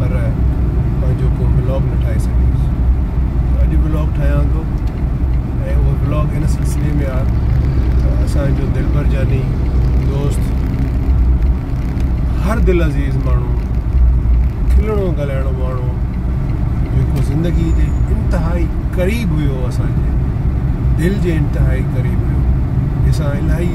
پر پنهنجو ڪو بلاگ نه ٺاهي سگهيس ته اڄ بلاگ ٺاهيان ٿو ۽ اهو بلاگ هن سلسلي ۾ آ ته اسانجو دلبر جاني دوست هر دل عزيز ماڻهو کلڻو ڳالهائڻو ماڻهو جيڪو زندگي جي انتهائي قريب هيو اسانجي دل جي انتهائي قريب هيو جسان الاهي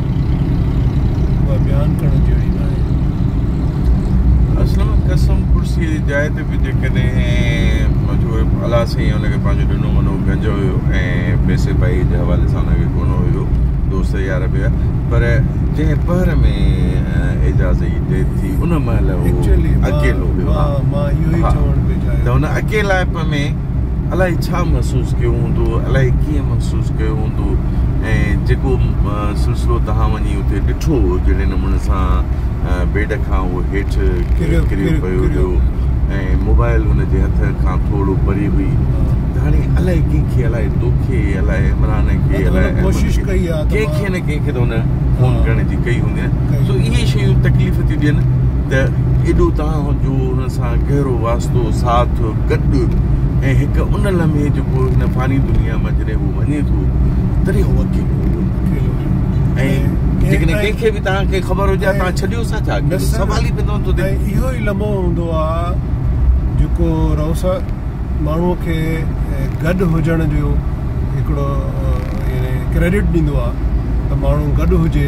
اها بيان ڪرڻ جهڙي ناهي. اصل ۾ قسم ڪرسيء جي جاء تي به جيڪڏهن جو الله سائين ان کي پنهنجو ڏنو منو گنج هيو ۽ پئسي پائيء جي حوالي سان ان کي ڪونه هيو دوست يار به هيا پر جنهن پهر ۾ اعجاز جي ڊيٿ ٿي ان مهل هو اڪيلو هيو ته هن اڪيلائپ ۾ الائي ڇا محسوس ڪيو هوندو، الائي ڪيئن محسوس ڪيو هوندو ۽ جيڪو سلسلو توهان وڃي اتي ڏٺو جهڙي نموني سان بيڊ کان هو هيٺ ڪريو پيو هيو ۽ موبائل هن جي هٿ کان ٿورڙو پري هئي ته هاڻي الائي ڪنهن کي الائي توکي الائي عمران کي الائي احمد کي ڪنهن کي نه ڪنهن کي ته هن فون ڪرڻ جي ڪئي هوندي نه سو اهي شيون تڪليف ٿيون ڏين ته ايڏو توهان جو سان گهرو واسطو، ساٿ، گڏ ۽ هڪ ان لمحي جيڪو هن فاني دنيا مان جڏهن هو وڃي ٿو تڏهن هو اڪيلو هو اڪيلو هو ۽ جيڪڏهن ڪنهن کي به توهان کي خبر هجي ها توهان ڇڏيو سا ڇا اڪيلو سوال ئي پيدا نٿو ٿئي اهو ئي لمحو هوندو آ جيڪو روسا ماڻهو کي گڏ هجڻ جو هڪڙو ڪريڊٽ ڏيندو آ ته ماڻهو گڏ هجي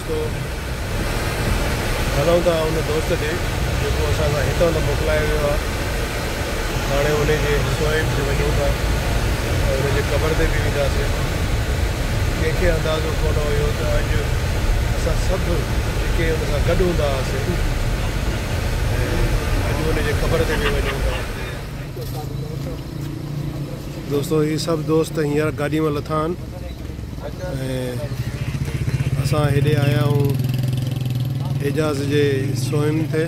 رستو هلون ٿا ان دوست ڏي جيڪو اسان کان هتان ته موڪلايو ويو آهي هاڻي ان جي حصوئن تي وڃون ٿا ۽ ان جي قبر تي به وينداسين ڪنهن کي اندازو ڪونه هيو ته اڄ اسان سڀ جيڪي ان سان گڏ هوندا هئاسين ۽ اڄ ان جي قبر تي به وڃون ٿا. دوستو هي سڀ دوست هينئر گاڏي مان لٿا آهن. ۽ اسان هيڏي آيا آهيون حجاز جي سونهن تي.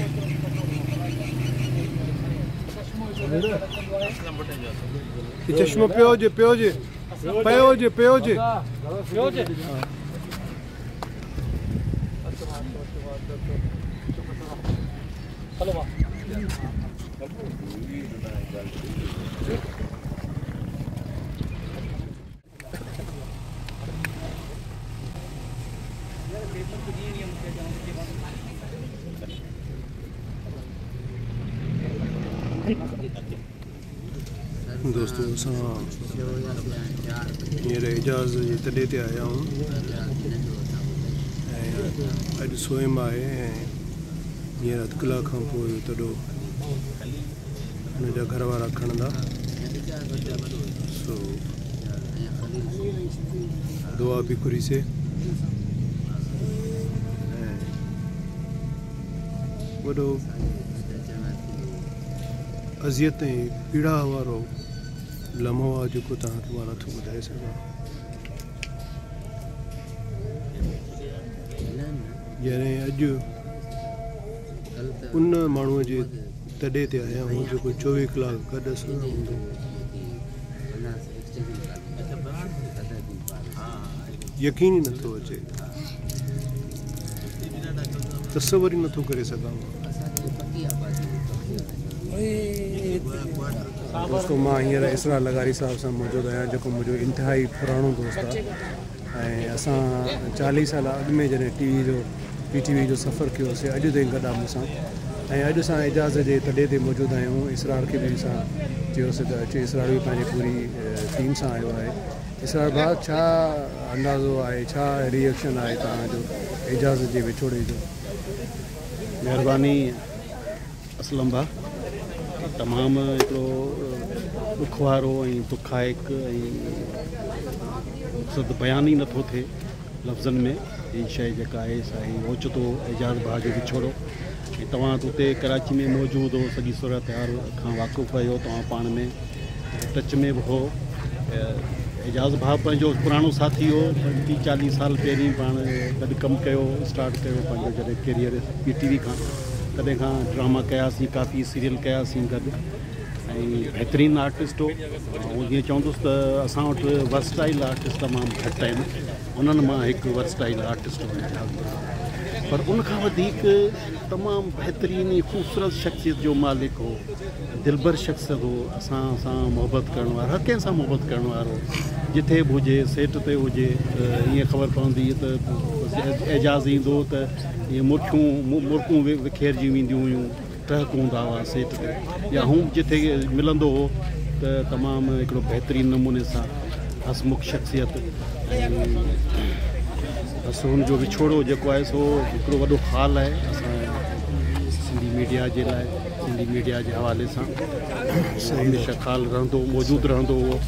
چشمو پيو هجي پيو هجي پيو هجي پيو هجي دوستو اسان هينئر اعجاز جي تڏي تي آيا آهيون اڄ سوئم آهي ۽ هينئر اڌ ڪلاڪ کان پوء تڏو هن جا گهر وارا کڻندا سو دعا به گهري سي وڏو اذيت ۽ پيڙا وارو لمحو آ جو کو تان کي وارا ٿو ٻڌائي سگا جنهن اڄ ان ماڻهو جي تڏي تي آهيان هو جيڪو چوويهه ڪلاڪ گڏ سان هوندو هو. يقين ئي نٿو اچي. تصور ئي نٿو ڪري سگهان مان. دوستو مان هينئر اسرار لغاري صاحب سان موجود آهيان جيڪو منهنجو انتهائي پراڻو دوست آهي. ۽ اسان چاليهه سال اڳ ۾ جڏهن ٽي وي جو پي ٽي وي جو سفر ڪيو سي اڄ تائين گڏ آ مون سان ۽ اڄ اسان اعجاز جي تڏي تي موجود آهيون اسرار کي به اسان چيو سي ته اچ اسرار به پنهنجي پوري ٽيم سان آيو آهي اسرار ڀاء ڇا اندازو آهي ڇا ريئڪشن آهي توهان جو اعجاز جي وڇوڙي جو. مهرباني اسلم ڀاء تمام هڪڙو ڏک وارو ۽ دکائڪ ۽ بيان ئي نٿو ٿئي لفظن ۾ هي شئي جيڪا آهي سا هي اوچتو اعجاز ڀاء جو وڇوڙو ۽ توهان اتي ڪراچي ۾ موجود هو سڄي صورتحال کان واقف رهيو توهان پاڻ ۾ ٽچ ۾ به هو. اعجاز ڀاء پنهنجو پراڻو ساٿي هو. ٽي چاليهه سال پهرين پاڻ گڏ ڪم ڪيو اسٽارٽ ڪيو پنهنجو جڏهن ڪيريئر پي ٽي وي کان تڏهن کان ڊراما ڪياسين ڪافي سيريل ڪياسين گڏ ۽ بهترين آرٽسٽ هو آئون جيئن چوندس ته اسان وٽ ورسٽائل آرٽسٽ تمام گهٽ آهن انهن مان هڪ ورسٽائل آرٽسٽ هو اعجاز ڀاء پر ان کان وڌيڪ تمام بهترين خوبصورت شخصيت جو مالڪ هو. دلبر شخص هو، اسان سان محبت ڪرڻ وارو، هر ڪنهن سان محبت ڪرڻ وارو، جٿي به هجي، سيٽ تي هجي ته ائين خبر پوندي ته اعجاز ايندو ته ائين مرڪيون مرڪون وکيرجي وينديون هيون، ٽهڪ هوندا هئا سيٽ تي يا هونء جٿي ملندو هو ته تمام هڪڙو بهترين نموني سان هسمک شخصيت ۽ بس هن جو وڇوڙو جيڪو آهي سو هڪڙو وڏو خال آهي اسان سنڌي ميڊيا جي لاء. سنڌي ميڊيا جي حوالي سان سو هميشه خال رهندو موجود رهندو هو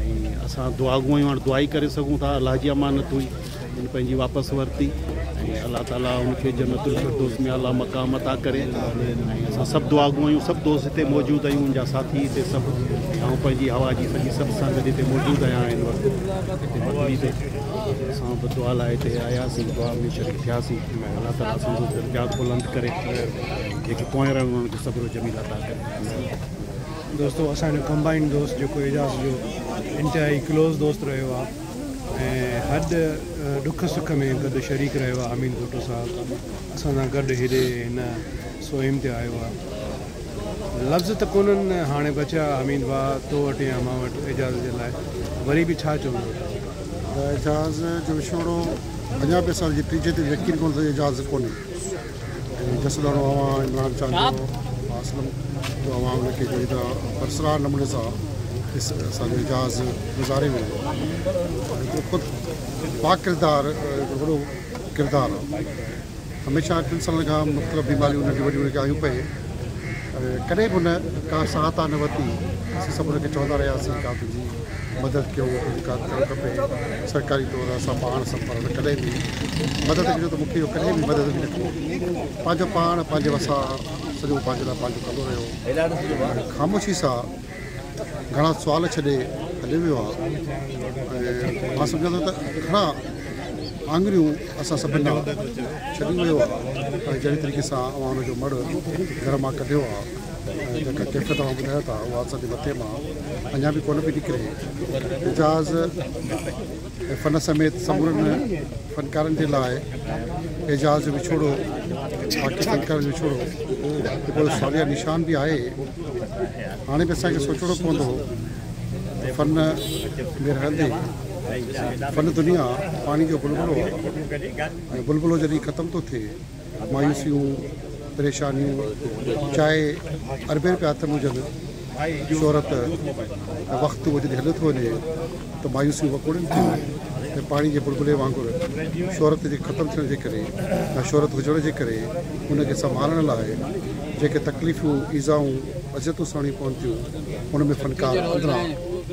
۽ اسان دعا گو آهيون دعا ئي ڪري سگهون ٿا الله جي امانت هئي هن پنهنجي واپس ورتي ۽ الله تعاليٰ هن کي جنت الفردوس ۾ اعليٰ مقام عطا ڪري ۽ اسان سڀ دعا گو آهيون سڀ دوست هتي موجود آهيون ان جا ساٿي هتي سڀ ۽ آئون پنهنجي هوا جي سڄي سڀ سان گڏ هتي موجود آهيان هن وقت هتي مڪلي تي اسان به دعا لاء هتي آياسين دعا ۾ شريڪ ٿياسين الله تعاليٰ اسان جو درجات بلند ڪري جيڪي پوئين رنگ انهن کي صبر و جميل عطا ڪري ٿيندي آهي دوستو اسان جو ڪمبائنڊ دوست جيڪو اعجاز جو انتهائي ڪلوز دوست رهيو آهي ۽ هر ڏک سک ۾ گڏ شريڪ رهيو آهي حميد ڀٽو صاحب اسان سان گڏ هيڏي هن سوئم تي آيو آهي لفظ ته ڪونهن هاڻي بچيا حميد ڀاء تو وٽ يا مان وٽ اعجاز جي لاء وري به ڇا چوندو اعجاز جو وڇوڙو اڃا به اسان جي ٽيجهي تي يقين ڪرڻ ته اعجاز ڪونهي جسلانو اوهان عمران خان جو اسلم جو اوهان ان کي جهڙي طرح پرسرار نموني سان اسان جو اعجاز گذاري ويو هڪڙو خود با ڪردار هڪڙو وڏو ڪردار آهي هميشه ٽن سالن کان مختلف بيماريون ننڍيون وڏيون هن کي آيون پئي ڪڏهن به هن ڪا ساهتا نه ورتي اسين سڀ هن کي چوندا رهياسين ڪا تنهنجي مدد ڪيو مون کي جيڪا به ڪرڻ کپي سرڪاري طور اسان پاڻ سڀ پر ڪڏهن به مدد ڪجو ته مون کي اهو ڪڏهن به مدد به نه ڪئي پنهنجو پاڻ پنهنجي وسا سڄو پنهنجي لاء پنهنجو ڪندو رهيو خاموشي سان گھڻا سوال ڇڏي هليو ويو آهي مان سمجھان ٿو ته گھڻا آڱريون اسان سڀ ڏانهن ڇڏي ويو آهي جهڙي طريقي سان اوهان هن جو مڙهه گھر مان ڪڍيو آهي جيڪا ڪيفيت اوهان ٻڌايو ٿا اها اسان جي مٿي مان اڃا به ڪونه پئي نڪري. اعجاز ۽ فن سميت سمورن فنڪارن جي لاء اعجاز جو وڇوڙو باقي فنڪارن جو وڇوڙو هڪڙو ساليه نشان به آهي. هاڻي به اسان کي سوچڻو پوندو ته فن ۾ رهندي فن دنيا پاڻي جو بلبلو آهي ۽ بلبلو جڏهن ختم ٿو ٿئي مايوسيون پريشانيون چاهي اربين رپيا هٿ ۾ هجن شهرت ۽ وقت اهو جڏهن هليو ٿو وڃي ته مايوسيون وڪوڙين ٿيون ۽ پاڻي جي بلبلي وانگر شهرت جي ختم ٿيڻ جي ڪري يا شهرت هجڻ جي ڪري ان کي سنڀالڻ لاء جيڪي تڪليفون ايذائون اذيتون سهڻيون پون ٿيون ان ۾ فنڪار اندران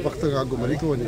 وقت کان اڳ مري ٿو وڃي.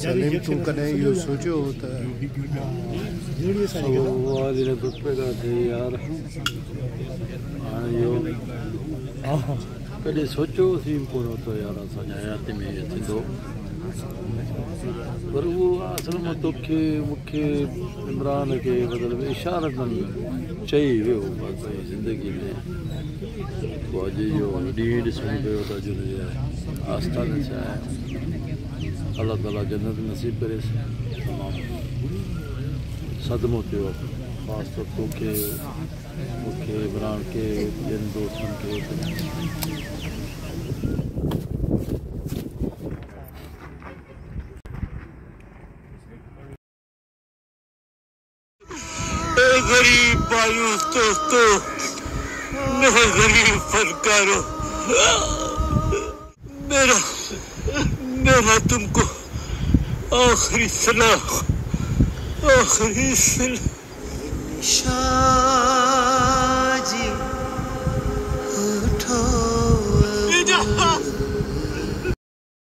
سليم تون ڪڏهن اهو سوچيو هو ته ڪڏهن سوچيو هوسين ڪونه هو ته يار اسان جي حياتي ۾ ايئن ٿيندو پر اهو اصل ۾ توکي مون کي عمران کي مطلب اشارتن چئي ويو بس زندگي ۾ خواجي جو هن ڏينهن ئي ڏسڻو پيو ته اڄ هن جي آستان ڇا آهي. الله تعاليٰ جنت نصيب ڪريس. تمام صدمو ٿيو اٿم. خاص طور تو کي، مون کي، عمران کي، ٻين دوستن کي تمام. اي غريب مايوس دوستو ميرا غريب فنڪارو ميرا ميرا تم ڪو آخري سلام آخري سلام. شاهه جي هٺ اب.